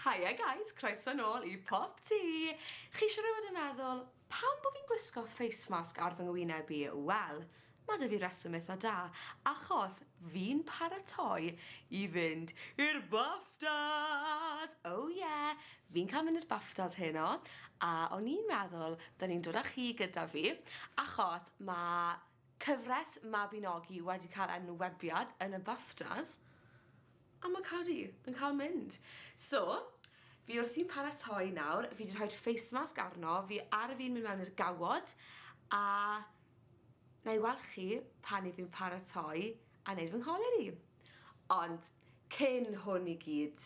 Hiya guys, croeso nôl i Pop Tea! Chi siwr o fod yn meddwl, pam bod fi'n gwisgo face mask ar fy ngwyneb i? Wel, mae 'da fi reswm eitha da, achos fi'n paratoi i fynd i'r BAFTAs! Oh yeah! Fi'n cael mynd i'r BAFTAs heno, a o'n i'n meddwl 'da ni'n dod â chi gyda fi, achos mae Cyfres Mabinogi wedi cael enwebiad yn y Baftas a ma' Cari yn cael mynd. So, fi wrthi'n paratoi nawr, fi 'di rhoid face mask arno fi ar fin mynd mewn i'r gawod a na i weld chi pan 'yf fi'n paratoi a neud fy ngholeri. Ond cyn hwn i gyd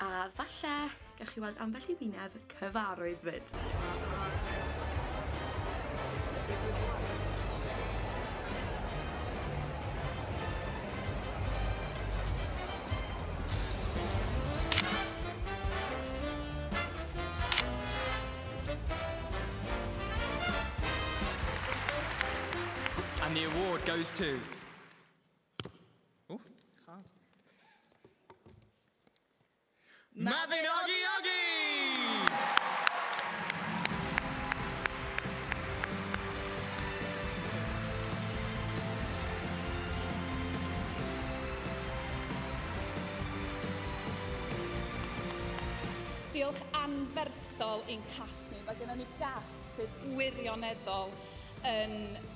A falle, gawch chi weld ambell i wyneb cyfarwydd fyd. And the award goes to... Mabinogi Ogi! Diolch anferthol i'n cast ni. Mae gennon ni gast sydd wirioneddol yn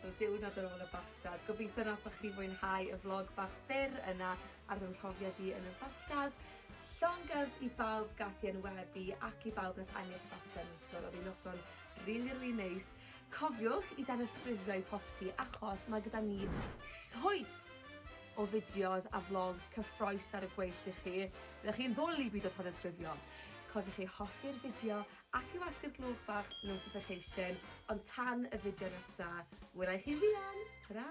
So diwrnod ar ôl y BAFTAs. Gobeithio nathoch chi fwynhau y vlog bach byr yna ar fy mhrofiad i yn y BAFTAs. Llongyfs i bawb gath i enwebu ac i bawb nath ennill BAFTA neithiwr. Oedd hi'n noson really, really neis. Cofiwch i danysgrifio i popty achos mae gyda ni llwyth o fideos a vlogs cyffroes ar y gweill i chi. Byddwch chi'n ddwl i byd o tanysgrifio. Cofiwch i hoffi'r fideo Ac i wasgu'r gloch bach notification ond tan y fideo nesa, wela i chi fuan! Ta-ra!